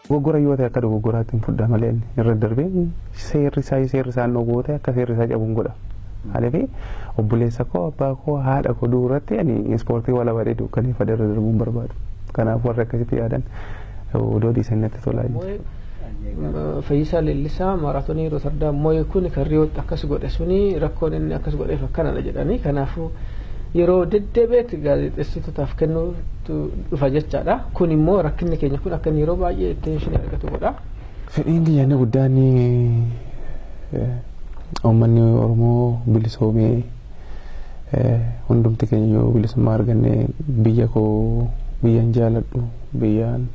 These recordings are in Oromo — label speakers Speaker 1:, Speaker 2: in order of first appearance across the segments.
Speaker 1: Dogoggora yoo ta'e akka dogoggoraatti hin fudhaa malee inni irra darbee seerri isaa seerri isaa hin dhowwoo ta'e akka seerri isaa cabuun godha. Haalifii obboleessa koo abbaa koo haadha koo du'u irratti ani ispoortii wala badee dukkaneeffadhe irra darbuun barbaadu. Kanaaf warri akkasitti yaadan Odoo dhiisan natti tola.
Speaker 2: Fayyisaa Leellisaa maaraatonii Rootardaam moo'e kun kan Riyootti akkas godhe suni rakkoon inni akkas godheef akkanadha jedhanii kanaafuu yeroo deddeebi'etti gaazexeessitootaaf kennuutu dhufa jechaadha. Kun immoo rakkinni keenya kun akka inni yeroo baay'ee attention argatu godha. Fedhiin kiyya inni
Speaker 1: guddaan uummanni Oromoo bilisoomee. hundumti keenya yoo bilisummaa arganne biyya koo biyyan jaaladhu biyyaan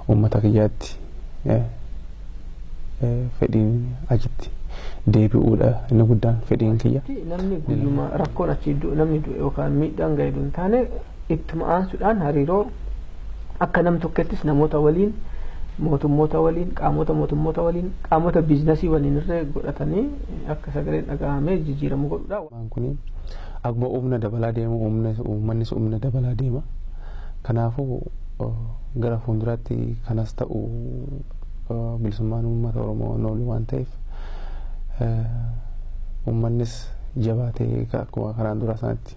Speaker 1: uummata kiyyaatti fedhiin achitti deebi'uudha inni guddaan fedhiin kiyya. Namni guyyuma
Speaker 2: rakkoon achi namni du'e yookaan miidhaan ga'e hin taane ittuma aansuudhaan hariiroo Akka nam tokkettis namoota waliin, mootummoota waliin, qaamoota mootummoota waliin, qaamota biiznasii waliin irree godhatanii akka sagaleen dhagahamee jijiiramu godhudha. Waan kuni
Speaker 1: akkuma umna dabalaa deemu uummannis umna dabalaa deema. Kanaafu gara fuunduraatti kanas ta'u bilisummaan uummata Oromoo hin oolu waan ta'eef uummannis jabaatee akkuma kanaan duraa sanatti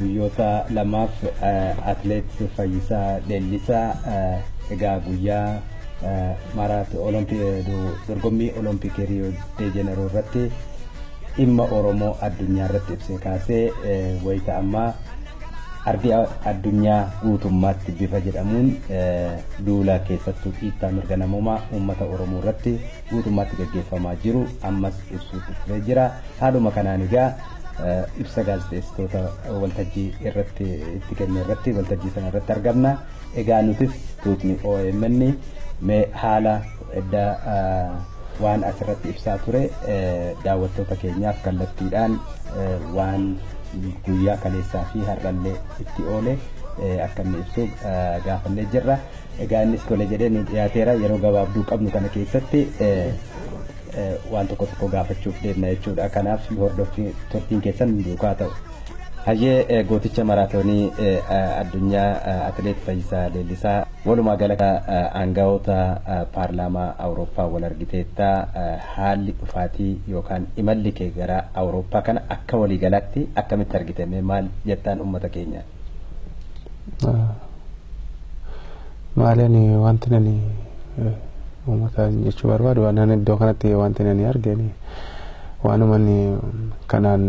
Speaker 3: Guyyoota lamaaf Atileet Fayyisaa Leellisaa egaa guyyaa dorgommii Olompikii Riyoo de Jeneroo irratti dhimma Oromoo addunyaa irratti ibsee kaasee wayita ammaa ardi addunyaa guutummaatti bifa jedhamuun duula keessattuu dhiittaa mirga namoomaa uummata Oromoo irratti guutummaatti gaggeeffamaa jiru ammas ibsuuf dhufee jira. Haaluma kanaan egaa ibsa gaazexeessitoota waltajjii irratti itti kenne irratti waltajjii sana irratti argamna. Egaa nutis tuutni OMN mee haala edda waan asirratti ibsaa ture daawwattoota keenyaaf kallattiidhaan waan guyyaa kaleessaa fi har'allee itti oole akka inni ibsu gaafannee jirra. Egaa innis tole jedhee nu dhiyaateera. Yeroo gabaabduu qabnu kana keessatti waan tokko tokko gaafachuuf deemna jechuudha. Kanaaf nu hordoffi turtiin keessan duukaa ta'u. Hayyee gooticha maraatoonii addunyaa atileet Fayyisaa Leellisaa walumaa gala aangawoota paarlaamaa Awurooppaa wal argiteetta haalli dhufaatii yookaan imalli kee gara Awurooppaa kana akka waliigalaatti akkamitti argite mee maal jettaan uummata keenyaan?
Speaker 1: Maaleen wanti nani uummataan jechuu barbaadu waan iddoo kanatti wanti nani argeen waanuma kanaan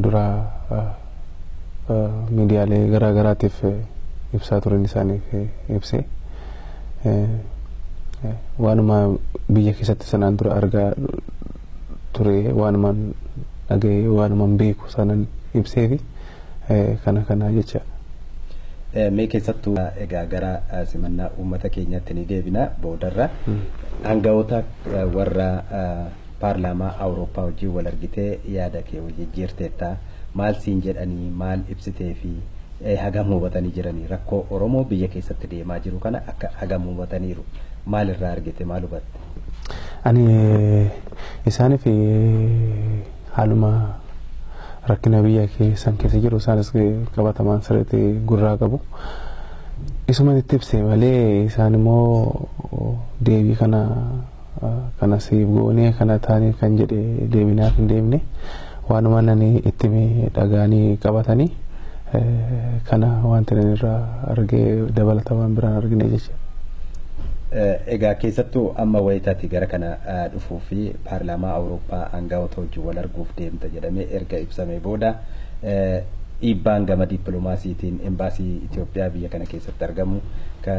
Speaker 1: dura miidiyaalee garaa garaatiif ibsaa turan isaaniif ibse waanuma biyya keessatti sanaan dura argaa ture waanuma dhaga'ee waanuma beeku sanan ibseefi. kana kanaa jechaadha.
Speaker 3: Mee keessattuu egaa gara simannaa uummata keenyaatti ni deebina boodarra aangawoota warra paarlaamaa Awurooppaa wajjin wal argitee yaada kee wal jijjiirteetta maal siin jedhanii maal ibsitee fi hagam hubatanii jiranii rakkoo Oromoo biyya keessatti deemaa jiru kana akka hagam hubataniiru maal irraa argite maal hubatte? Ani
Speaker 1: isaaniif haaluma rakkina biyya keessan keessa jiru isaanis qabatamaan sirriitti gurraa qabu. Isuma itti ibse malee isaan immoo deebii kana kana siif goonee kana taanee kan jedhe deebinaaf hin deemne waanuma nani itti dhagaanii qabatanii kana wanti nani irraa argee dabalata waan biraan argine jecha.
Speaker 3: Egaa keessattuu amma wayitaati gara kana dhufuu fi paarlaamaa Awurooppaa aanga'oota wajjin wal arguuf deemta jedhamee erga ibsamee booda dhiibbaan gama dippiloomaasiitiin Embaasii Itoophiyaa biyya kana keessatti argamu ka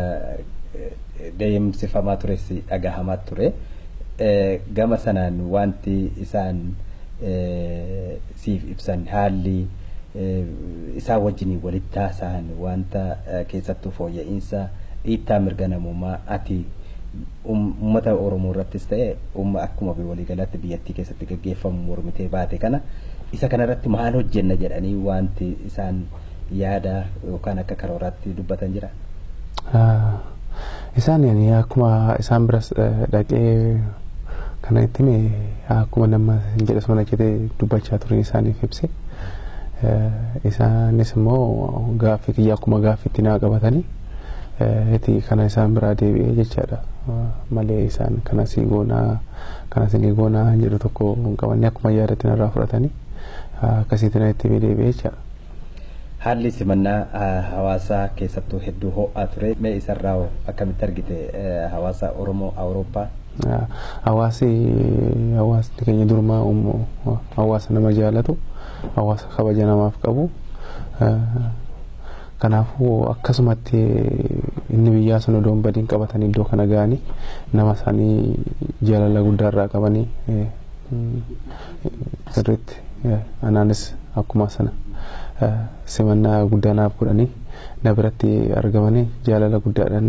Speaker 3: deemsifamaa tures dhagahamaa ture. Gama sanaan waanti isaan siif ibsan haalli isaan wajjiniin walitti haasa'an waanta keessattuu fooyya'iinsa dhiittaa mirga namoomaa ati Uummata Oromoo irrattis ta'e uumma akkuma waliigalaatti biyyattii keessatti gaggeeffamu mormitee baate kana isa kana irratti maal hojjenna jedhanii waanti isaan yaada yookaan akka karooraatti dubbatan jira?
Speaker 1: Isaan ani akkuma isaan biras dhaqee kana itti hime akkuma nama hin jedhe sana jedhee dubbachaa turin isaaniif ibse. Isaanis immoo gaaffii kiyya akkuma gaaffiitti naa qabatanii iti kana isaan biraa deebi'ee jechaadha malee isaan kana sii goonaa kana sinii goonaa hin jedhu tokko hin qabanne akkuma yaadatti narraa fudhatanii akkasiitti na itti deebi'ee jechaadha. Haalli
Speaker 3: simannaa hawaasaa keessattuu hedduu ho'aa ture mee isarraa hoo akkamitti argite hawaasa Oromoo Awurooppaa? Hawaasi hawaasni keenya durumaa hawaasa nama jaalatu hawaasa kabaja namaaf qabu Kanaafuu akkasumatti inni biyyaa sun odoo hin badiin qabatanii iddoo kana ga'anii nama isaanii jaalala guddaa irraa qabanii sirriitti anaanis akkuma sana simannaa guddaa naaf godhanii na biratti argamanii jaalala guddaadhaan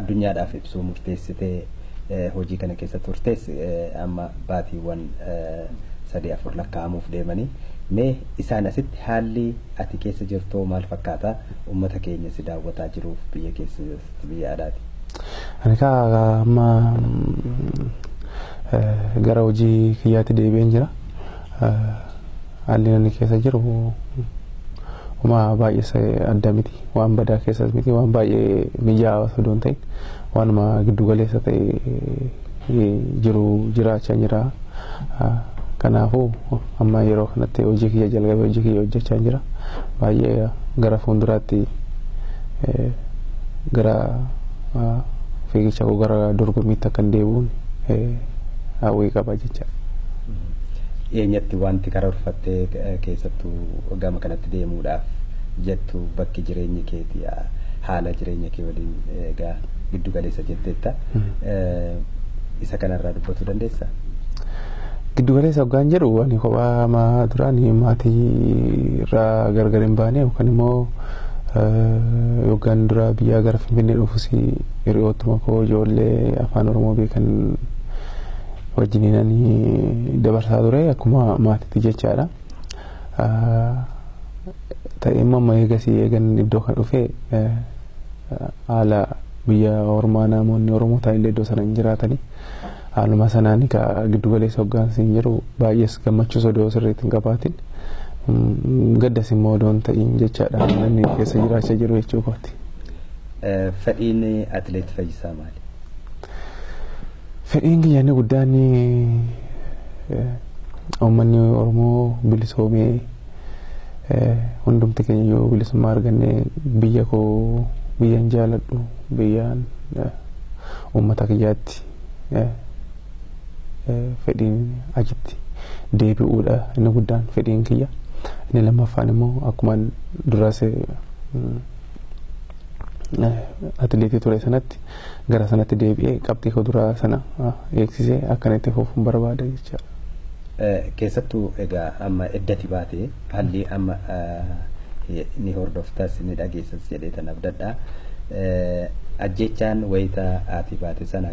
Speaker 3: addunyaadhaaf ibsuu murteessitee hojii kana keessa turtes amma baatiiwwan sadii afur lakkaa'amuuf deemanii mee isaan asitti haalli ati keessa jirtoo maal fakkaata ummata keenya si daawwataa jiruuf biyya keessas biyya alaati. Ani
Speaker 1: kaa amma gara hojii kiyyaatti deebi'een jira. Haalli inni keessa jiru homaa baay'ees adda miti. Waan badaa keessas miti. Waan baay'ee mijaa'aas odoo hin ta'in waanuma giddu galeessa ta'e jiru jiraachaa jira. Kanaafuu amma yeroo kanatti hojii kiyya jalqabee hojii kiyya hojjechaa jira. Baay'ee gara fuulduraatti gara fiigicha koo gara dorgommiitti akkan deebi'uun hawwii qaba jechaadha.
Speaker 3: Dhiyeenyatti wanti karoorfattee keessattuu gama kanatti deemuudhaaf jettu bakki jireenyi keeti haala jireenya kee waliin egaa giddu galeessa jetteetta. Isa kanarraa dubbatuu dandeessaa?
Speaker 1: Giddu galeessa hoggaan jedhu ani kophaa ama duraan maatii irraa gargar hin baane yookaan immoo yoggaan dura biyyaa gara Finfinnee dhufus hiriyoottuma koo ijoollee afaan Oromoo beekan wajjininan dabarsaa ture akkuma maatiitti jechaadha. Ta'ee immoo amma eegasii eegan iddoo kan dhufe haala biyya ormaa namoonni Oromoo taa'illee iddoo sana hin jiraatani. Haaluma sanaan egaa giddu galeessa hoggaansi hin jiru baay'ees gammachuus odoo sirriitti hin qabaatin gaddas immoo odoo hin ta'iin jechaadha namni keessa jiraachaa jiru jechuu kooti.
Speaker 3: Fedhiin atileet Fayyisaa maali?
Speaker 1: Fedhiin kiyya inni guddaan uummanni Oromoo bilisoomee hundumti keenya yoo bilisummaa arganne biyya koo biyyan jaaladhu biyyaan uummata kiyyaatti fedhiin achitti deebi'uudha inni guddaan fedhiin kiyya. Inni lammaffaan immoo akkuma duras atileetii ture sanatti gara sanatti deebi'ee qabxii koo duraa sana eegsisee akkan itti fufuun barbaada jechaadha. Keessattuu
Speaker 3: egaa amma eddati baate haalli amma ni hordoftas ni dhageessas jedhee tan abdadha. Ajjeechaan wayita ati baate sana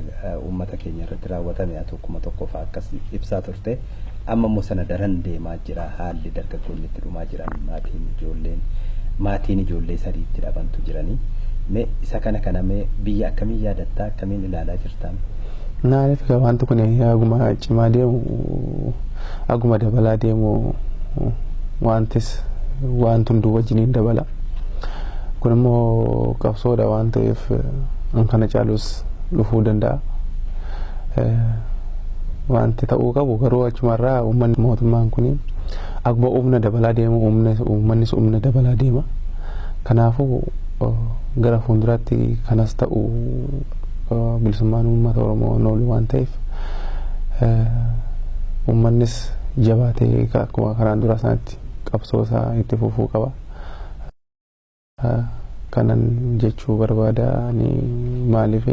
Speaker 3: uummata keenya irratti raawwatame atu kuma tokkoof akkas ibsaa turte. Amma immoo sana daran deemaa jira haalli dargaggoonni itti dhumaa jiran maatiin ijoolleen maatiin ijoollee sadii itti dhabantu jiranii mee isa kana kana mee biyya akkamiin yaadattaa akkamiin ilaalaa jirtaan? Naani fika
Speaker 1: wanti kun aguma cimaa deemu aguma dabalaa deemu wantis wanti hunduu wajjiniin dabala. Kun immoo qabsoodha waan ta'eef kan kana caalus dhufuu danda'a. wanti ta'uu qabu garuu achumarraa uummanni mootummaan kun akkuma humna dabalaa deemu uummannis humna dabalaa deema. Kanaafuu gara fuulduraatti kanas ta'u bilisummaan uummata Oromoo noolu waan ta'eef uummannis jabaatee akkuma kanaan dura sanatti qabsoo isaa itti fufuu qaba. kanan jechuu barbaada ani maaliif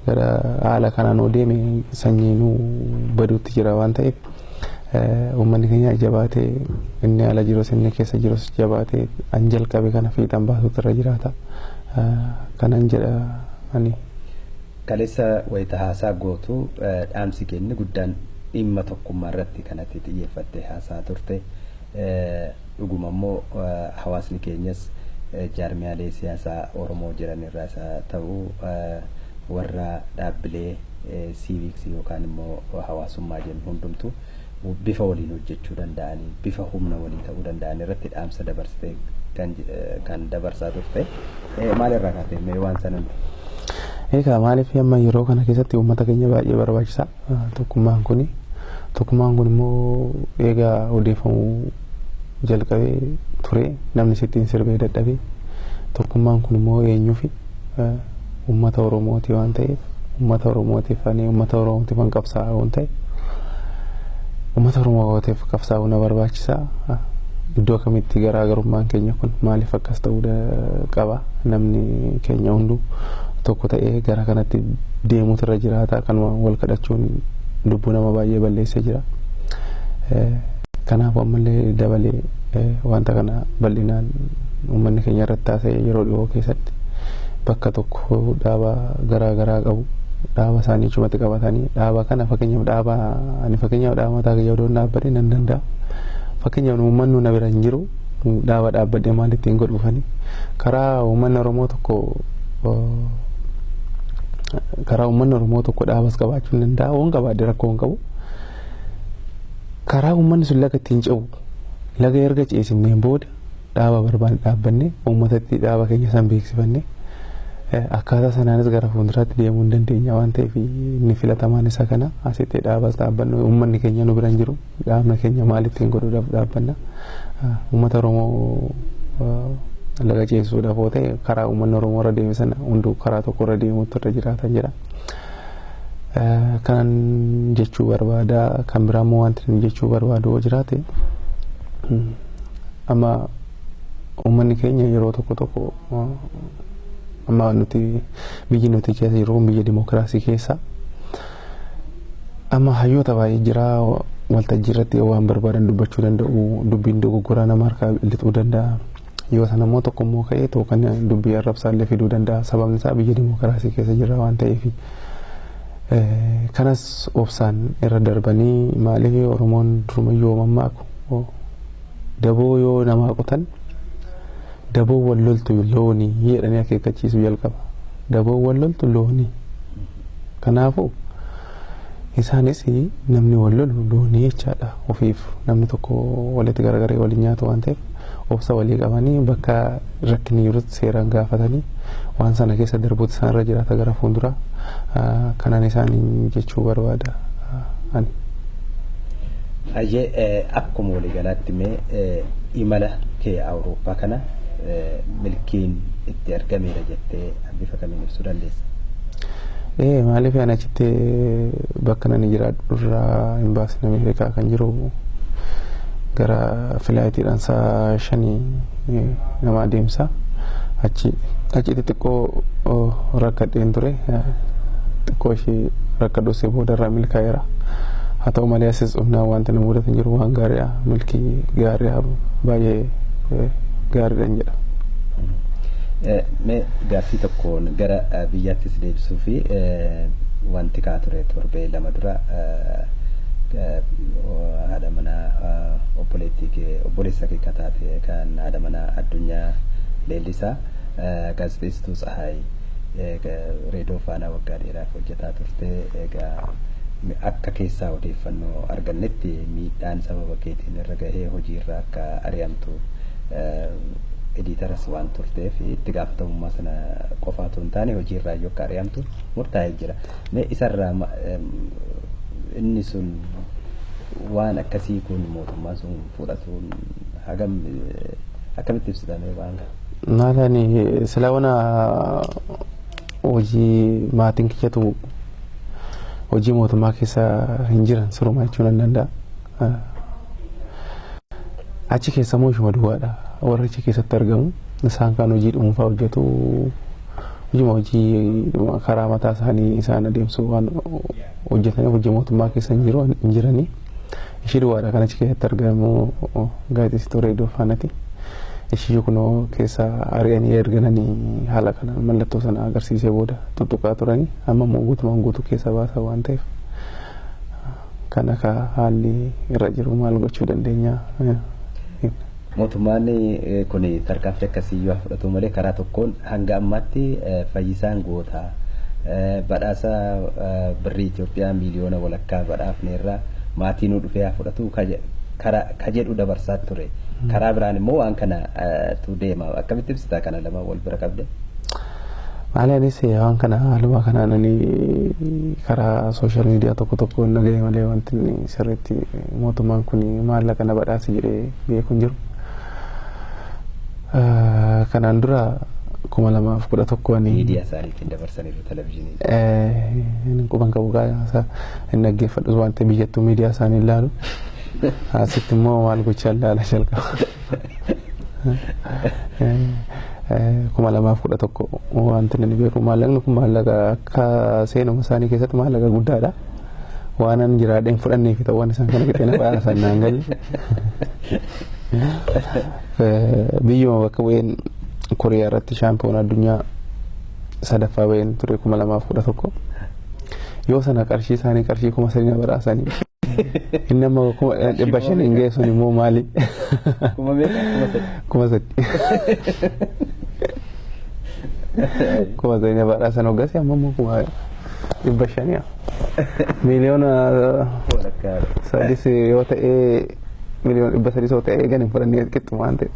Speaker 1: gara haala kanaan yoo deeme sanyiinuu baduutti jira waan ta'eef uummanni keenya jabaatee inni ala jirus inni keessa jirus jabaatee an jalqabe kana fiixan baasuutu irra jiraata kanan jedha ani. Kaleessa
Speaker 3: wayita haasaa gootu dhaamsi kee inni guddaan dhimma tokkummaa irratti kan ati xiyyeeffattee haasaa turte. Dhuguma immoo hawaasni keenyas jaarmiyaalee siyaasaa Oromoo jiran irraas haa ta'u warra dhaabbilee siiviiksii yookaan immoo hawaasummaa jennu hundumtu bifa waliin hojjechuu danda'aniin, bifa humna walii ta'uu danda'an irratti dhaamsa dabarsite kan dabarsaa turte. Maal irraa kaatee mee waan sana nutti himi? Egaa
Speaker 1: maaliif amma yeroo kana keessatti uummata keenya baay'ee barbaachisa. Tokkummaan kuni tokkummaan kun immoo eegaa odeeffamuu jalqabee ture namni sittiin sirbee dadhabee tokkummaan kun immoo eenyuufi uummata Oromooti waan ta'eef uummata Oromootiif ani uummata Oromootiif an qabsaa'aa waan ta'e uummata Oromootiif qabsaa'uu na barbaachisa iddoo kamitti garaagarummaan keenya kun maaliif akkas ta'uu qaba namni keenya hunduu tokko ta'ee gara kanatti deemuutu irra jiraata kanuma wal kadhachuun lubbuu nama baay'ee balleessee jira. Kanaaf ammallee dabalee wanta kana bal'inaan uummanni keenya irratti haasa'ee yeroo dhiyoo keessatti bakka tokko dhaaba garaa garaa qabu dhaaba isaanii achumatti qabatanii dhaaba kana fakkeenyaaf dhaaba ani fakkeenyaaf dhaaba mataa kiyya odoon dhaabbadhe nan danda'a. Fakkeenyaaf uummanni na bira hin jiru. dhaaba dhaabbadhee maal ittiin godhuufani karaa uummanni Oromoo tokko karaa uummanni Oromoo tokko dhaabas qabaachuu hin danda'a waan qabaadhe rakkoo hin qabu karaa uummanni sun laga ittiin ce'u laga erga ceesifneen booda dhaaba barbaanne dhaabbannee uummatatti dhaaba keenya san beeksifannee akkaataa sanaanis gara fuulduraatti deemuu hin dandeenya waan ta'eef inni filatamaan isa kana asitti dhaabas dhaabbannu uummanni keenya nu bira hin jiru. Dhaabna keenya maal ittiin godhuudhaaf dhaabbanna? Uummata Oromoo laga ceesisuudhaaf yoo ta'e karaa uummanni Oromoo irra deeme sana hunduu karaa tokko irra deemuutu irra jiraatan jedha. Kanan jechuu barbaada kan biraa immoo wanti inni jechuu barbaadu yoo jiraate amma uummanni keenya yeroo tokko tokko amma nuti biyyi nuti keessa jirru biyya dimookiraasii keessa Amma hayyoota baay'ee jira waltajjii irratti yoo waan barbaadan dubbachuu danda'u dubbiin dogoggoraa nama harkaa lixuu danda'a. Yoo sana immoo tokko immoo ka'ee too kan dubbii arrabsaa illee fiduu danda'a. Sababni isaa biyya dimookiraasii keessa jirra waan ta'eef. Kanas obsaan irra darbanii maaliif Oromoon durumayyuu mammaaku daboo yoo namaa qotan daboo wal loltu loonii jedhanii akeekkachiisuu jalqaba. Daboo wal loltu loonii. Kanaafuu isaanis namni wal lolu loonii jechaadha ofiif namni tokko walitti garagaree waliin nyaatu waan ta'eef obsa walii qabanii bakka rakkinni jirutti seeraan gaafatanii waan sana keessa darbuutu isaan irra jiraata gara fuulduraa kanan isaaniin jechuu barbaada ani.
Speaker 3: Ayyee akkuma waliigalaatti mee imala kee Awurooppaa kana milkiin itti argameera jettee kan bifa kamiin ibsuu dandeessa?
Speaker 1: Ee maaliif ani achitti bakka nani jiraadhu irraa imbaasiin Ameerikaa kan jiru gara filaayitiidhaan sa'a shanii nama adeemsa. Achi achitti xiqqoo rakkadheen ture. Xiqqoo ishee rakkadhuusee booda irraa milkaa'eera. Haa ta'u malee asis dhufnaan wanti na mudatan jiru waan gaariidha. Milkii gaariidha baay'ee gaariidha jedha. Mee
Speaker 3: gaaffii tokkoon gara biyyaatti si deebisuu fi wanti ka'aa ture torbee lama dura haadha manaa obboleettii kee obboleessa kee akka taate kan haadha manaa Addunyaa Leellisaa gaazexeessituu Tsahaay reedoo faanaa waggaa dheeraaf hojjetaa turte egaa akka keessaa odeeffannoo argannetti miidhaan sababa keetiin irra gahee hojiirra akka ari'amtu ediitaras waan turteef itti gaafatamummaa sana qofaa otoo hin taane hojii irraa iyyuu akka ari'amtu murtaa'ee jira. Mee isarraa ma- em, inni sun waan akkasii kun mootummaan sun fudhatuun hagam eh, akkamitti ibsitamee waan kana? Maalani silaa
Speaker 1: wana hojii maatiin kiyyatu hojii mootummaa keessa hin jiran sirumaa jechuun nan danda'a. Achi keessa immoo ishuma duwwaadha. Warri achi keessatti argamu isaan kan hojii dhuunfaa hojjetu hojima hojii karaa mataa isaanii isaan adeemsuu waan hojjetaniif hojii mootummaa keessa hin jiru hin jiranii. Ishii duwwaadha kan achi keessatti argamu gaazexeessituu reediyoo faanati. Ishii kunoo keessa ari'anii ergananii haala kana mallattoo sana agarsiisee booda tuttuqaa turanii amma immoo guutumaan guutuu keessa baasaa waan ta'eef. Kan akka haalli irra jiru maal gochuu dandeenya? Mootummaan
Speaker 3: kun tarkaanfii akkasii yoo fudhatu malee karaa tokkoon hanga ammaatti fayyisaan goota badhaasa birrii Itoophiyaa miiliyoona walakkaa badhaafneerra maatii nuu dhufee haa fudhatu ka jedhu dabarsaa ture. Karaa biraan immoo waan kanatu deema. Akkamitti ibsita kana lama wal bira qabde? Maali
Speaker 1: anis waan kana haaluma kanaan ani karaa sooshaal miidiyaa tokko tokko hin dhagahe malee wanti inni sirriitti mootummaan kun maallaqa na badhaase jedhee beeku hin jiru. Eh, Kanaan dura kuma lamaaf kudha tokko ani Miidiyaa isaanii ittiin dabarsaniiru
Speaker 3: televizyiinii. eh, inni quban qabu
Speaker 1: gaasa hin dhaggeeffadhus waan ta'eef biyyattuu miidiyaa isaanii hin laalu. Asitti immoo maal gochaa ilaala jalqaba. kuma lamaaf kudha tokko wanti inni beeku maallaqni kun maallaqa akka seenuma isaanii keessatti maallaqa guddaadha. Waan an jiraadheen fudhannee fi ta'uun isaan kana fixee nafa arsan naan galle. Biyyuma bakka bu'een Koriyaa irratti shaampiyoona addunyaa sadaffaa ba'een ture kuma lamaaf kudha tokko. Yoo sana qarshii isaanii qarshii kuma sadii na badhaasanii. Inni amma kuma dhibba shan hin geessuun immoo maali? Kuma meeqa? Kuma sadii. Kuma sadii. Kuma sadii na badhaasan hoggasii amma immoo kuma dhibba shanii. Miiliyoona Walakkaa. sadis yoo ta'ee miliyoona dhibba sadii soo ta'e eegan hin fudhannee qixxuma waan ta'e.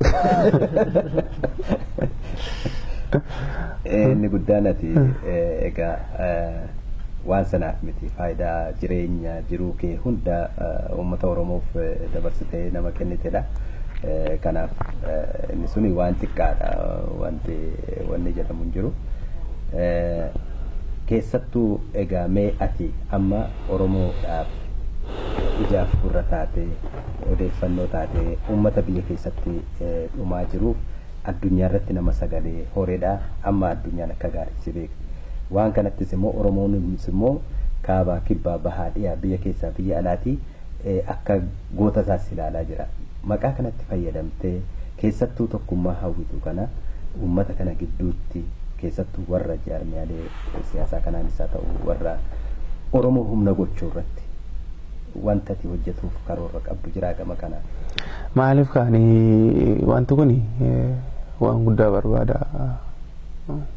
Speaker 3: Inni guddaan ati egaa waan sanaaf miti faayidaa jireenya jiruu kee hunda uummata Oromoof dabarsitee nama kennitedha. Kanaaf inni suni waan xiqqaadha wanti wanni jedhamu hin jiru. Keessattuu egaa mee ati amma Oromoodhaaf ijaaf gurra taatee, odeeffannoo taatee uummata biyya keessatti dhumaa jiruuf addunyaarratti nama sagalee horedha. Amma addunyaan akka gaariitti si beekti. Waan kanattis immoo Oromoonumts immoo kaabaa, kibbaa, bahaa, dhiyaa, biyya keessaa, biyya alaatii akka goota isaas ilaalaa jira. Maqaa kanatti fayyadamtee keessattuu tokkummaa hawwitu kana uummata kana gidduutti keessattuu warra jaarmiyaalee siyaasaa kanaanis haa ta'u warra Oromoo humna gochuu irratti wanta ati hojjetuuf karoora qabdu jiraa gama kanaan? Maaliif
Speaker 1: kaani wanti kun waan guddaa barbaada.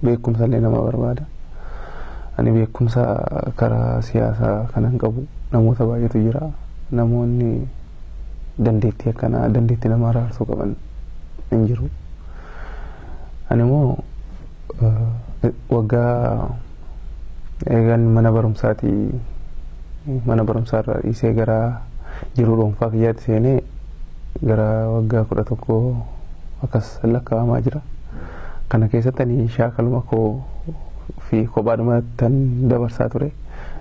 Speaker 1: Beekumsa illee nama barbaada. Ani beekumsa karaa siyaasaa kanan qabu namoota baay'eetu jira. namoonni dandeettii akkanaa dandeettii nama araarsuu qaban hin jiru. Ani immoo waggaa eegan mana barumsaati mana barumsaarra dhiisee gara jiruu dhuunfaa kiyyaatti seenee gara waggaa kudha tokko akkas lakkaa'amaa jira. Kana keessatti ani shaakaluma koo fi kophaadhumatti dabarsaa ture.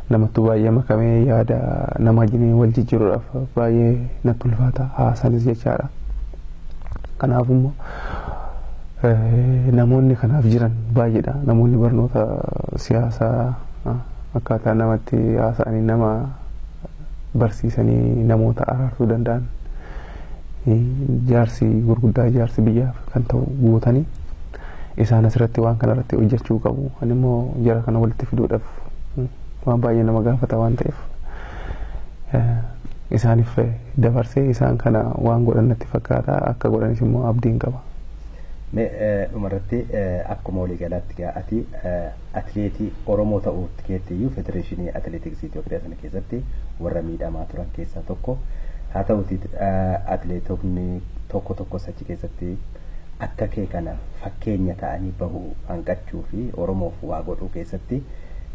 Speaker 1: namattuu baay'ee makamee yaada nama wajjin wal jijjiiruudhaaf baay'ee natti ulfaata haasanis jechaadha. Kanaaf immoo namoonni kanaaf jiran baay'eedha. Namoonni barnoota siyaasaa akkaataa namatti haasa'anii nama barsiisanii namoota araarsuu danda'an jaarsi gurguddaa jaarsi biyyaaf kan ta'u gootanii isaan asirratti waan kana irratti hojjechuu qabu. Ani immoo jara kana walitti fiduudhaaf waan baay'ee nama gaafata waan ta'eef isaaniif dabarsee isaan kana waan godhan natti fakkaata akka godhanis immoo abdiin qaba.
Speaker 3: Dhumarratti akkuma waliigalaatti ati atileetii Oromoo ta'uu keetti iyyuu federeeshinii atileetiksii Itoophiyaa sana keessatti warra miidhamaa turan keessaa tokko. Haa ta'uutii atileetonni tokko tokkos achi keessatti akka kee kana fakkeenya ta'anii bahu hanqachuu fi Oromoof waa godhuu keessatti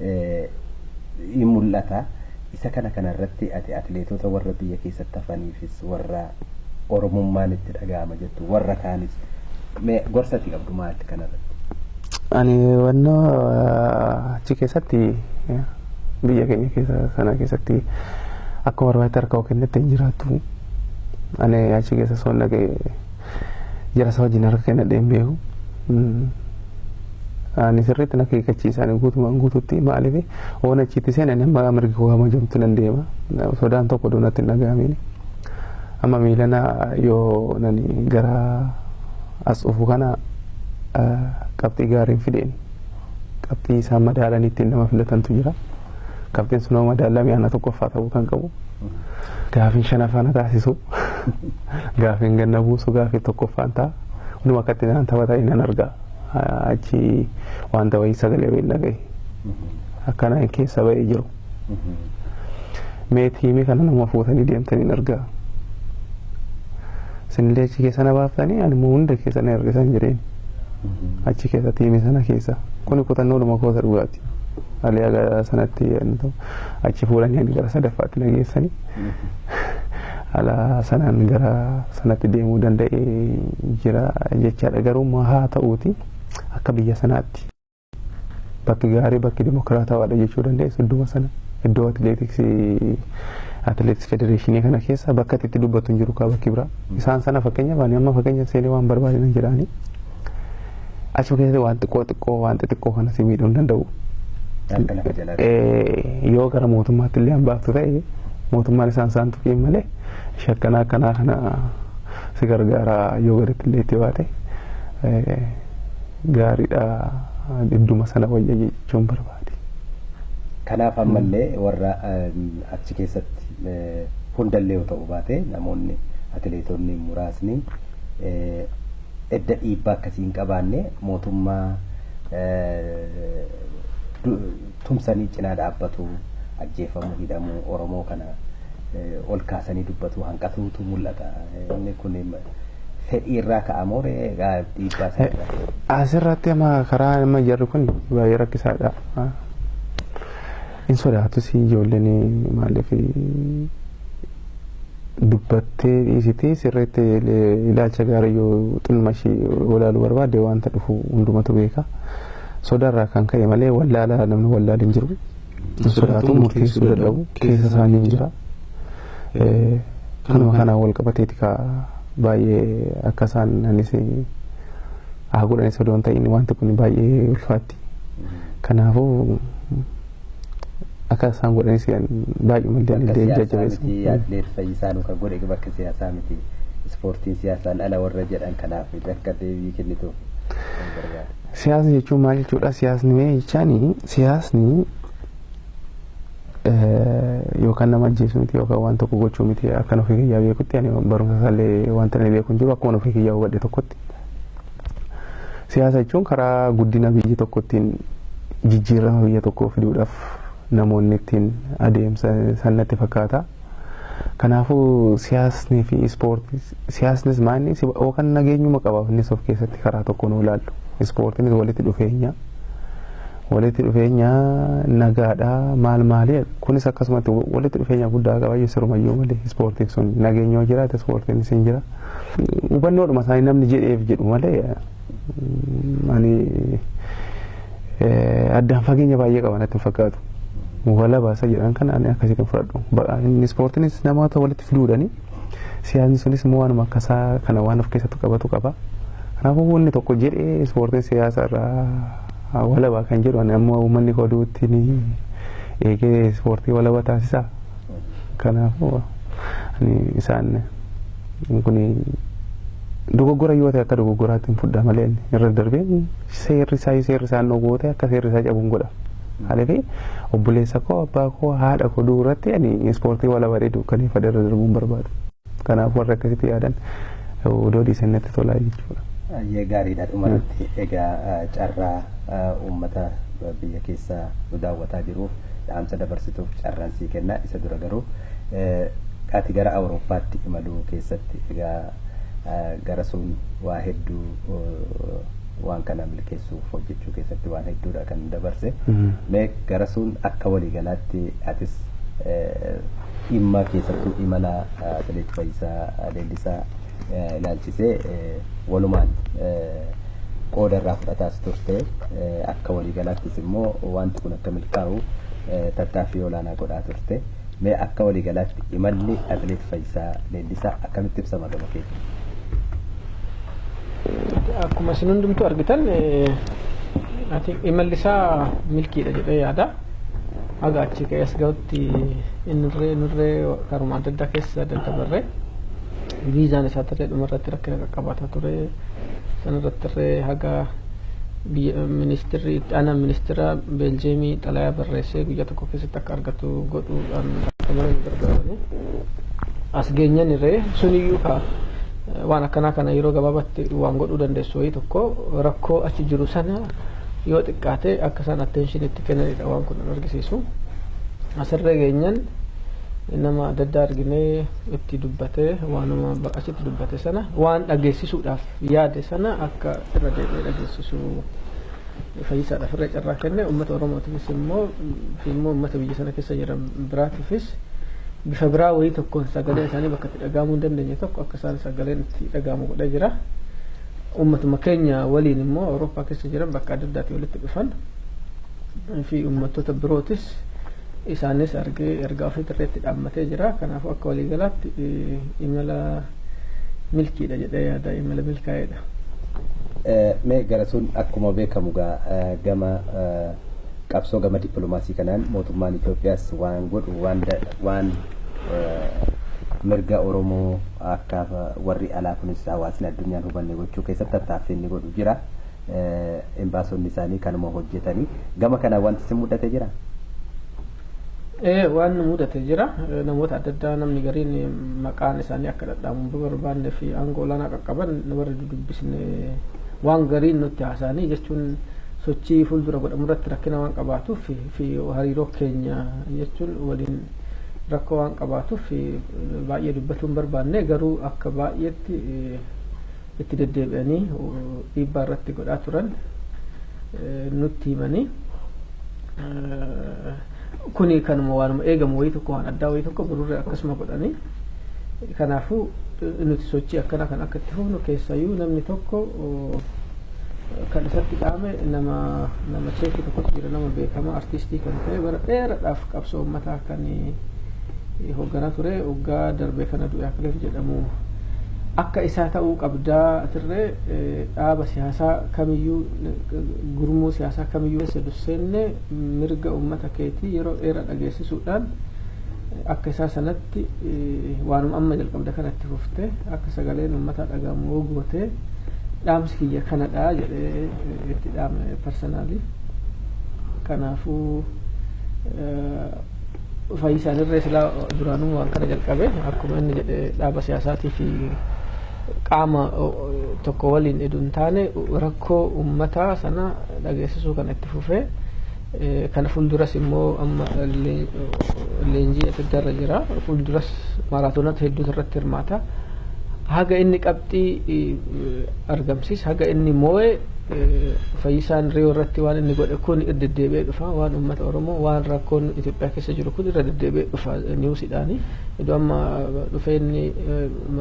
Speaker 3: in mul'ata. Isa kana kana irratti ati atileetoota warra biyya keessatti hafaniifis warra Oromummaan itti dhaga'ama jettu warra kaanis mee gorsa ati qabdu maali kana irratti? Ani
Speaker 1: wanna achi keessatti biyya keenya keessa sana keessatti akkuma barbaadde harka koo kennetti hin jiraatu. Ani achi keessa soon dhaga'e jara isaa wajjin harka kennadhee hin beeku. Ani sirriitti na keekkachiisaan guutumaan guututti maaliif waan achiitti seenan amma mirgi koo hamajamtu nan deema sodaan tokko doonatti hin dhaga'amiin. Amma miilana yoo nani gara as dhufu kana qabxii gaariin fideen qabxii isaan madaalanii ittiin nama filatantu jira. Qabxiin sun yoo madaalame ana tokkoffaa ta'uu kan qabu. Gaafiin shanaffaa na taasisu. Gaafiin gad na buusu gaafii tokkoffaan ta'a. Hunduma akkatti naan taphata nan arga. Achi wanta wayii sagalee wayii dhagahe. Akkana hin keessa ba'ee jiru. Mee tiimii kana nama fuutanii deemtanii hin argaa. Sinillee achi keessa na baaftanii ani immoo hunda keessa na ergisan jireen. Achi keessa tiimii sana keessa. Kuni kutannoodhuma koosa dhugaati. Aliyaa sanatti yaadni ta'u. achi fuudhanii ani gara sadaffaatti na geessani. Haala sanaan gara sanatti deemuu danda'ee jira jechaadha. Garuu immoo haa ta'uuti akka biyya sanaatti bakki gaarii bakki dimokiraatawaadha jechuu dandeessu idduma sana iddoo atileetiksii atileetiks federeeshinii kana keessa bakka itti dubbatu hin jiru kaa bakki biraa. Isaan sana fakkeenyaaf ani amma fakkeenya seenee waan barbaade nan jedhaanii. Achuma keessatti waan xiqqoo xiqqoo waan xixiqqoo kana si miidhuu hin danda'u. Harka lafa jalaa. Eh, Yoo gara mootummaatti illee hambaaftu ta'e mootummaan isaan isaan tuqiin malee shakkanaa akkanaa kana si gargaara yoo gaditti illee itti baate eh, gaariidha idduma sana wayya jechuun barbaade.
Speaker 3: Kanaaf ammallee warra ehm, achi keessatti eh, hundallee yoo ta'u baate namoonni atileetonni muraasni eh, edda dhiibbaa akkasii hin qabaanne mootummaa tumsanii cinaa dhaabbatu ajjeefamuu hidhamuu Oromoo kana ol kaasanii dubbatuu hanqatuutu mul'ata. Inni kun fedhii irraa ka'amoo egaa dhiibbaa isaa irraa? Asirratti amma
Speaker 1: karaa amma jarri kun baay'ee rakkisaadha. Hin sodaatus ijoolleen maaliif dubbattee dhiisitee sirreetti ilaalcha gaarii yoo xinuma ishii walaaluu barbaadde wanta dhufu hundumatu beeka. Sodaarraa kan ka'e malee wallaalaa namni wallaalu hin jiru. Hin sodaatu murteessuu dadhabu keessa isaanii hin jira. Kanuma kanaan wal qabateeti kaa baay'ee akka isaan anis haa godhanis odoo hin ta'in wanti kun baay'ee ulfaatti. Kanaafuu akka isaan godhanis baay'eemallee Bakka ani siyaasaa jajjabeessa. miti yaaddeef fayyisaa
Speaker 3: nu kan godhe bakka siyaasaa miti. Ispoortiin siyaasaan ala warra jedhan kanaaf akka deebii kennituuf kan barbaadu.
Speaker 1: Siyaasa jechuun maal jechuudha? Siyaasni mee jechaan siyaasni eh, yookaan nama ajjeesuu miti yookaan waan tokko gochuu miti akkan ofii kiyyaa beekutti ani barumsa isaallee wanta inni beeku hin jiru akkuma ofii kiyyaa hubadhe tokkotti Siyaasa jechuun karaa guddina biyyi tokko ittiin jijjiirama biyya tokkoo fiduudhaaf namoonni ittiin adeemsa san natti fakkaata. Kanaafuu siyaasni fi ispoortii siyaasnis maanni yookaan nageenyuma qaba innis of keessatti karaa tokkoon yoo ilaallu. Ispoortiinis walitti dhufeenya walitti dhufeenya nagaadha maal maali kunis akkasumatti walitti dhufeenya guddaa qaba jechuudha sirumayyuu malee ispoortiin sun nageenya yoo jiraate ispoortiinis hin jira. Hubannoodhuma isaanii namni jedheef jedhu malee ani addaan fageenya baay'ee qaba natti hin fakkaatu. Walaba isa jedhan kana ani akkasitti hin fudhadhu. Inni ispoortiinis namoota walitti fiduudhani siyaasni sunis immoo waanuma akka isaa kana waan of keessatti qabatu qaba. Kanaafuu inni tokko jedhee ispoortiin siyaasa irraa walaba kan jedhu ani amma uummanni koo duutti eegee ispoortii walaba taasisaa. Kanaafuu ani isaan kun dogoggora yoo ta'e akka dogoggoraatti hin fudhaa malee irra darbee seerri isaa seerri isaan dhowwoo ta'e akka seerri isaa cabuun godha. Maaliif obboleessa koo abbaa koo haadha koo du'u irratti ani ispoortii wala bareedu kan ifadha irra darbuun barbaadu. Kanaaf warri akkasitti yaadan odoo dhiisan natti tolaa jechuudha. Ayyee gaariidha
Speaker 3: dhumarratti egaa carraa uummata biyya keessa nu daawwataa jiruuf dhaamsa dabarsituuf carraan sii kenna isa dura garuu ati gara awurooppaatti imaluu keessatti egaa gara sun waa hedduu waan kana milkeessuuf hojjechuu keessatti waan hedduudha kan dabarse mee gara sun akka waliigalaatti atis dhimma keessattuu imala Atileet Fayyisaa Leellisaa ilaalchisee walumaan qooda irraa fudhataas turte. Akka waliigalaattis immoo wanti kun akka milkaa'u tattaaffii olaanaa godhaa turte. Mee akka waliigalaatti imalli Atileet Fayyisaa Leellisaa akkamitti ibsama gama keetiin?
Speaker 2: Akkuma isin hundumtuu argitan imalli isaa milkiidha jedhee yaada. Haga achii ka'ee as gahutti inirree inirree karuma adda addaa keessa daddabarree viizaan isaa tarree dhuma irratti rakkina qaqqabaataa ture. Sana irratti irree haga ministirri itti aanaa ministira Beeljeemii xalayaa barreessee guyyaa tokko keessatti akka argatu godhuudhaan akka malee nu gargaaranii as geenyeen irree suniyyuu kaa waan akkanaa kana yeroo gabaabatti waan godhuu dandeessu wayii tokko rakkoo achi jiru sana yoo xiqqaate akka isaan attention itti kennanidha waan kun kan argisiisu. Asirra geenyan nama adda addaa arginee itti dubbate waanuma achitti dubbate sana waan dhageessisuudhaaf yaade sana akka irra deebi'ee dhageessisu fayyisaadhaaf irra carraa kenne uummata Oromootiifis immoo fi immoo uummata biyya sana keessa jiran biraatiifis bifa biraa wayii tokkoon sagalee isaanii bakka itti dhaga'amuu hin dandeenye tokko akka isaan sagaleen itti dhaga'amu godhee jira. Uummatuma keenya waliin immoo Awurooppaa keessa jiran bakka adda addaatii walitti dhufan fi uummattoota birootis isaanis argee ergaa ofii dirreetti dhaammatee jira. Kanaafuu akka waliigalaatti imala milkiidha jedhee yaada imala milkaa'eedha.
Speaker 3: Mee garasuun akkuma beekamu gaa gama qabsoo gama dippiloomaasii kanaan mootummaan Itoophiyaas waan godhu waan mirga Oromoo Akka warri alaa kunis hawaasni addunyaan hubanne gochuu keessatti tattaaffii inni godhu jira. Embaasonni isaanii kanuma hojjetanii. Gama kanaan wanti isin mudate jira? Ee
Speaker 2: waan nu mudate jira. Namoota adda addaa namni gariin maqaan isaanii akka dhadhaamu hin barbaanne fi aangoo olaanaa qaqqaban warri dudubbisne waan gariin nutti haasa'anii jechuun sochii fuuldura godhamu irratti rakkina waan qabaatuuf fi hariiroo keenya jechuun waliin rakkoo waan qabaatuuf baay'ee dubbachuu hin barbaanne garuu akka baay'eetti itti deddeebi'anii dhiibbaa irratti godhaa turan nutti himanii kuni kanuma waanuma eegamu wayii tokko waan addaa wayii tokko birurree akkasuma godhanii kanaafuu nuti sochii akkana kan akka itti fufnu keessayyuu namni tokko Kan isatti dha'ame nama nama cheekii tokkotu jira nama beekamaa artiistii kan ta'e bara dheeraadhaaf qabsoo uummataa kan hoogganaa ture waggaa darbee kana du'e Akilil jedhamu akka isaa ta'uu qabdaa atirree dhaaba siyaasaa kamiyyuu gurmuu siyaasaa kamiyyuu keessa durseenne mirga uummata keetii yeroo dheeraa dhageessisuudhaan akka isaa sanatti waanuma amma jalqabde kana itti fuftee akka sagaleen uummataa dhagahamu yoo gootee dhaamsi kiyya kanadha jedhee itti dhaame parsanaalii. Kanaafuu fayyisaan irree silaa duraanuu waan kana jalqabe akkuma inni jedhe dhaaba siyaasaatii fi qaama tokko waliin edu hin taane rakkoo uummataa sana dhageessisuu kana itti fufee Kana fuulduras immoo amma leenjii adda addaa irra jira. Fuulduras maaraatoonota hedduutu irratti hirmaata. Haga inni qabxii argamsiis haga inni moo'e fayyisaan riyoo irratti waan inni godhe kun irra deddeebi'ee dhufa waan uummata Oromoo waan rakkoon Itoophiyaa keessa jiru kun irra deddeebi'ee dhufa niwusidhaani. Iddoo amma dhufee inni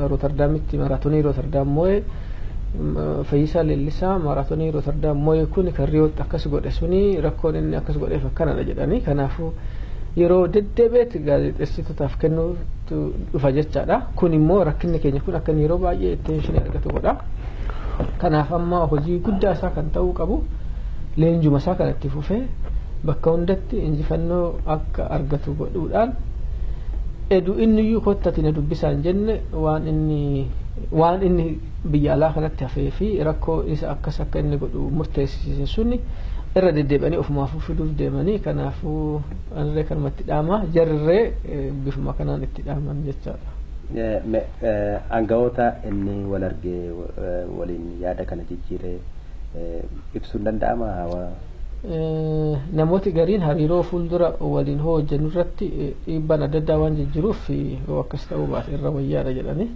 Speaker 2: Rootardaamitti maaraatoonii Rootardaam moo'e Fayyisaa Leellisaa maaraatonii Rootardaam moo'e kun kan Riyootti akkas godhe suni rakkoon inni akkas godheef akkanadha jedhanii kanaafuu yeroo deddeebi'etti gaazexeessitootaaf kennuutu dhufa jechaadha. Kun immoo rakkinni keenya kun akka yeroo baay'ee attention argatu godha. Kanaaf amma hojii guddaa isaa kan ta'uu qabu leenjuma isaa kan itti fufee bakka hundatti injifannoo akka argatu godhuudhaan edu inni iyyuu kottatiin na dubbisaan jenne waan inni Waan inni biyya alaa kanatti hafee fi rakkoo isa akkas akka inni godhu murteessisiise suni irra deddeebi'anii ofumaafuu fiduuf deemanii kanaafuu anillee kanuma itti dhaama jarrillee bifuma kanaan itti dhaaman jechaadha. Me, Aangawoota
Speaker 3: inni wal arge waliin yaada kana jijjiire ibsuun danda'amaa?
Speaker 2: Namooti gariin hariiroo fuuldura waliin hoo hojjennu irratti dhiibbaan adda addaa waan jijjiruuf yoo akkas ta'uu baate irra wayyaadha jedhanii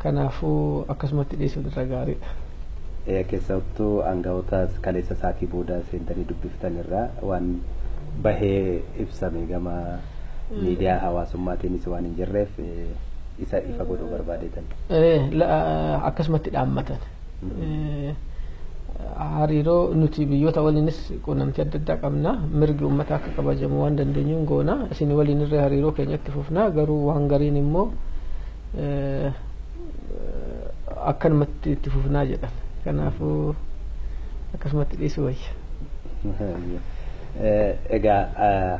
Speaker 2: kanaafuu akkasumatti dhiisuun irra gaariidha. Keessattuu
Speaker 3: aangawoota kaleessa isaatii booda seentanii dubbiftan irraa waan bahee ibsame gama miidiyaa hawaasummaatiinis waan hin jirreef isa ifa godhuu barbaadeetan.
Speaker 2: Akkasumatti dhaammatan. hariiroo nuti biyyoota waliinis quunnamtii adda addaa qabna mirgi uummataa akka kabajamu waan dandeenyuun goona isin waliin irra hariiroo keenyatti fufna garuu waan gariin immoo akkanumatti itti fufnaa jedhan kanaafuu akkasumatti dhiisuu wayya.
Speaker 3: Egaa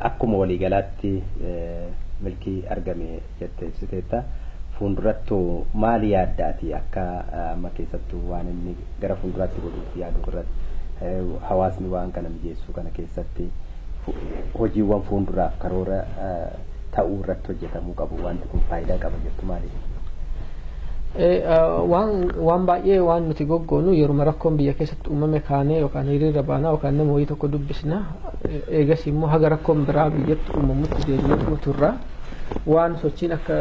Speaker 3: akkuma waliigalaatti milkii argame jettee ibsiteetta. Fuundurattu maali yaadda ati akka amma keessattu waan inni gara fuunduraatti godhuuf yaadu irratti hawaasni waan kana mijeessuu kana keessatti hojiiwwan fuunduraaf karoora ta'uu irratti hojjetamuu qabu wanti kun faayidaa qaba jettu maaliif?
Speaker 2: Waan baay'ee waan nuti goggoonu yeruma rakkoon biyya keessatti uumame kaanee yookaan hiriira baanaa yookaan nama wayii tokko dubbisna eegas immoo haga rakkoon biraa biyyatti uumamutti deemnee turra. waan sochiin akka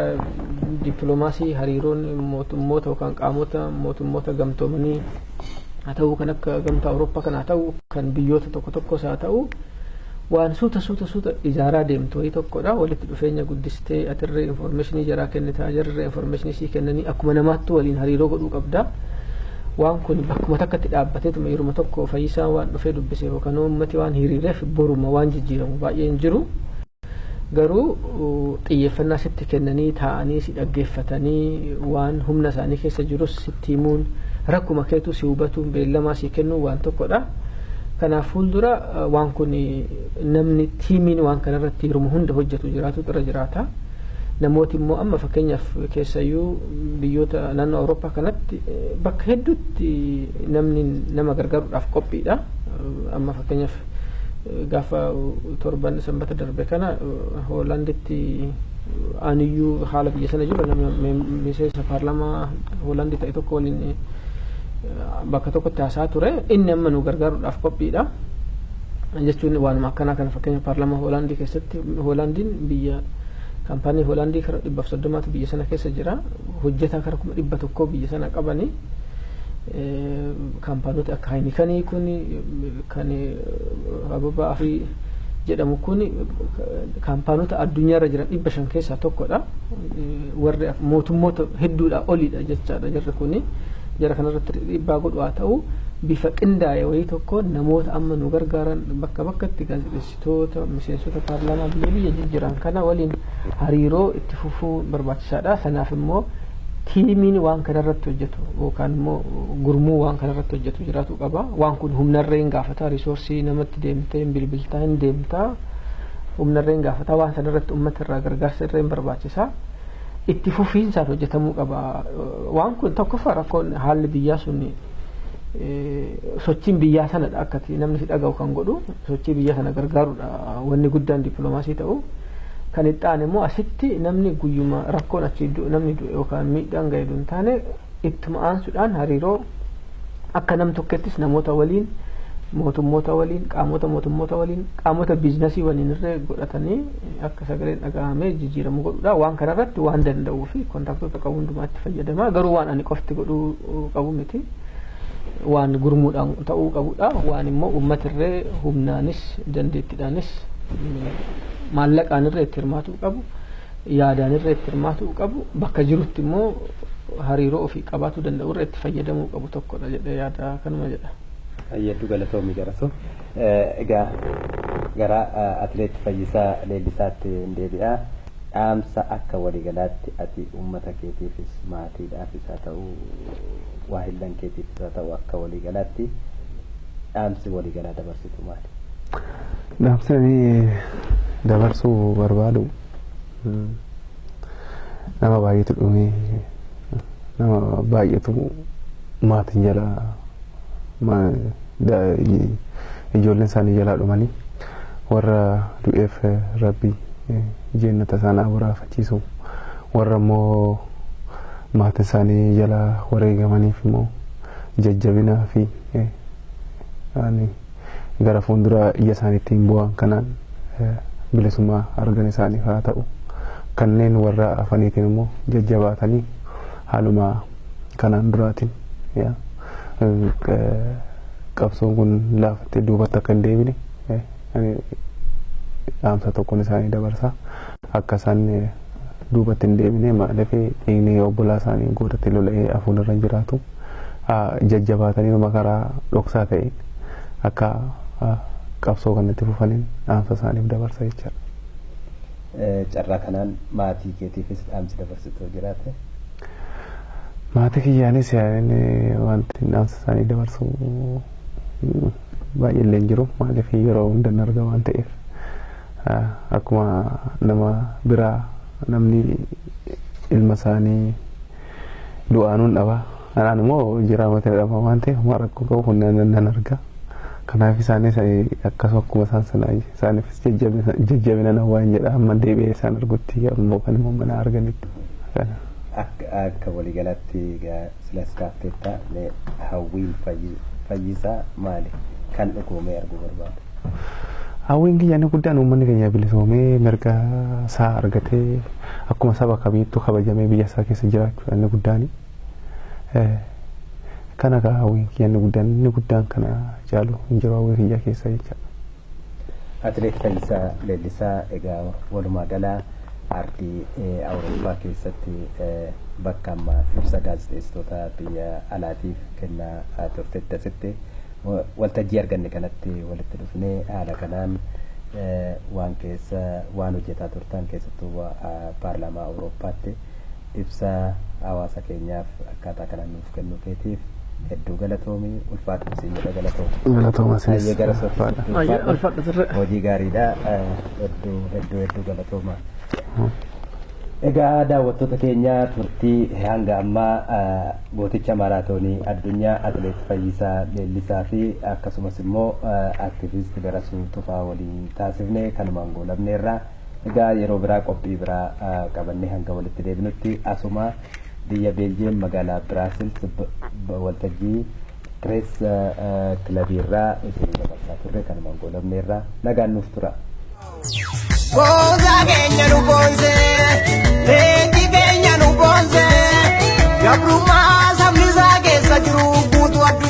Speaker 2: dippiloomaasii hariiroon mootummoota yookaan qaamota mootummoota gamtoomanii haa ta'uu kan akka gamtaa Awurooppaa kan haa ta'u kan biyyoota tokko tokkos haa ta'u waan suuta suuta suuta ijaaraa deemtu wayii tokkodha walitti dhufeenya guddistee atirree infoormeeshinii jaraa kennitaa jarree infoormeeshinii sii kennanii akkuma namaattu waliin hariiroo godhuu qabda. Waan kun bakkuma takkatti dhaabbateetuma yeruma tokko fayyisaa waan dhufee dubbise yookaan uummati waan hiriireef boruma waan jijjiiramu baay'een jiru. Garuu xiyyeeffannaa sitti kennanii taa'anii si dhaggeeffatanii waan humna isaanii keessa jirus sitti himuun rakkuma keetuu si hubatuun beellamaa si kennuun waan tokkodha. Kanaaf fuuldura waan kun namni tiimiin waan kanarratti hirmu hunda hojjetu jiraatutu irra jiraata. Namooti immoo amma fakkeenyaaf keessayyuu biyyoota naannoo Awurooppaa kanatti bakka hedduutti namni nama gargaaruudhaaf qophiidha. Amma fakkeenyaaf gaafa torban sanbata darbe kana Hoolaanditti aaniyyuu haala biyya sana jiru nama miseensa paarlaamaa Hoolaandii ta'e tokko waliin bakka tokkotti haasaa ture inni amma nu gargaaruudhaaf qophiidha. jechuun waanuma akkanaa kana fakkeenya paarlaamaa Hoolaandii keessatti Hoolaandiin biyya kaampaanii Hoolaandii kara dhibbaaf soddomaatu biyya sana keessa jira hojjetaa kara kuma dhibba tokkoo biyya sana qabanii kaampaanoti akka Haayinikanii kun Kan Ababa Afrii jedhamu kun kaampaanota addunyaarra jiran dhibba shan keessaa tokkodha. Warri mootummoota hedduudhaa olidha jechaadha jarri kun. Jara kanarratti dhiibbaa godhu haa ta'u bifa qindaa'e wayii tokko namoota amma nu gargaaran bakka bakkatti gaazexeessi. Toota miseensota paarlaamaa biyya biyya jijjiran kana waliin hariiroo itti fufuu barbaachisaadha. Sanaaf immoo tiimiin waan kana irratti hojjetu yookaan immoo gurmuu waan kana irratti hojjetu jiraatu qaba. Waan kun humnarree hin gaafata, riisoorsii namatti deemtee hin bilbiltaa hin deemtaa humnarree hin gaafata. Waan sana irratti uummata irraa gargaarsa irree hin barbaachisa. Itti fufiinsaan hojjetamuu qaba. Waan kun tokkoffaa rakkoon haalli biyyaa sun sochiin biyyaa sanadha akkati namni si dhaga'u kan godhu sochii biyya sana gargaarudha wanni guddaan dippiloomaasii ta'u. Kan itti aane immoo asitti namni guyyuma rakkoon achi namni du'e yookaan miidhaan ga'e hin taane ittuma aansuudhaan hariiroo akka nam tokkettis namoota waliin mootummoota waliin qaamota mootummoota waliin qaamota biiznasii waliin irree godhatanii akka sagaleen dhaga'amee jijjiiramu godhudha waan kanarratti waan danda'uu fi kontaaktoota qabu hundumaatti fayyadama garuu waan ani qofti godhuu qabu miti. Waan gurmuudhaan ta'uu qabudha. Waan immoo uummatirree humnaanis dandeettidhaanis maallaqaan irree itti hirmaatuu qabu, yaadaan irree itti hirmaatuu qabu, bakka jirutti immoo hariiroo ofii qabaatuu danda'u irree itti fayyadamuu qabu tokkodha jedhee yaada kanuma jedha. Hedduu
Speaker 3: galatoomi Jarasoo. Egaa gara Atileet Fayyisaa Leellisaatti hin deebi'a. dhaamsa akka waligalaatti ati ummata keetiifis maatiidhaafis haa ta'u waahillan keetiifis haa ta'u akka waligalaatti dhaamsi waligalaa dabarsitu maali? Dhaamsi
Speaker 1: ani dabarsuu barbaadu nama baay'eetu dhumee nama baay'eetu maatiin jalaa ijoolleen isaanii jalaa dhumanii. Warra du'eef Rabbi jeennata isaan haa boraafachiisu. Warra immoo maatiin isaanii jalaa wareegamaniif immoo jajjabinaa fi ani gara fuulduraa ija isaaniittiin boo'an kanaan bilisummaa argan isaaniif haa ta'u. Kanneen warra hafaniitiin immoo jajjabaatanii haaluma kanaan duraatiin. qabsoon kun laafattee duubatti akka hin deebine dhaamsa tokkoon isaanii dabarsa akka isaan duubatti hin deebine maaliif dhiigni obbolaa isaanii gootatti lola'ee afuun irra hin jiraatu jajjabaatanii makaraa dhoksaa ta'e akka qabsoo kanatti fufaniin dhaamsa isaaniif dabarsa jechaadha.
Speaker 3: Carraa kanaan maatii keetiifis dhaamsi dabarsitu jiraate.
Speaker 1: Maatii kiyyaanis yaa'in wanti dhaamsa isaanii dabarsu baay'ee illee hin jiru. Maaliif yeroo hunda hin arga waan ta'eef akkuma nama biraa namni ilma isaanii du'aanuun dhaba. Anaan immoo jiraa matina dhaba waan ta'eef waan rakkoo qabu kun nan arga. Kanaaf isaanis akkasuma akkuma isaan sana isaanifis jajjabina nan waan jedha amma deebi'ee isaan argutti ammoo kan immoo mana arganitti.
Speaker 3: Akka waliigalaatti silas kaafteetta mee hawwiin fayyisaa maali kan dhugoomee arguu barbaadu? Hawwiin
Speaker 1: kiyya inni guddaan uummanni keenya bilisoomee mirga isaa argatee akkuma saba kamiittuu kabajamee biyya isaa keessa jiraachuudha inni guddaani. Eh, kana kaa hawwiin kiyya inni guddaan inni guddaan kana caalu hin jiru hawwii kiyya keessa jecha.
Speaker 3: Atileet Fayyisaa Leellisaa egaa walumaa gala ardii eh, Awurooppaa keessatti eh, bakka amma ibsa gaazexeessitoota biyya alaatiif kennaa ah, turtetti asitti wa- waltajjii arganne kanatti walitti dhufnee haala kanaan eh, waan keessa waan hojjetaa turtan keessattuu wa- ah, paarlaamaa Awurooppaatti Ibsa hawaasa keenyaaf akkaataa kanaan nuuf kennuu keetiif hedduu galatoomi. Ulfaadhu siin jedha galatoomi. Galatooma isinis.
Speaker 1: Hayyee gara soofii
Speaker 3: Ulfaadha. sitti Hayyee, ulfaadha. ulfaadha turre. Hojii gaariidha. Eh, Hedduu hedduu hedduu galatooma. Egaa daawwattoota keenya turtii hanga ammaa eh, gooticha maaraatoonii addunyaa atileet Fayyisaa Leellisaa fi akkasumas immoo eh, aktiviist Darasuu Tufaa waliin taasifne kanumaan goolabneerra. Egaa yeroo biraa qophii biraa qabannee hanga walitti deebinutti asuma biyya Beeljiyeem magaalaa Biraasils waltajjii Pirees Kilabii irraa isinii dabarsaa turre kanumaan goolabneerra. Nagaan nuuf turaa.
Speaker 4: Gosa keenya nu boonse, leenji keenya nu boonse, gabrummaa sabni isaa keessa jiru guutuu addunyaa.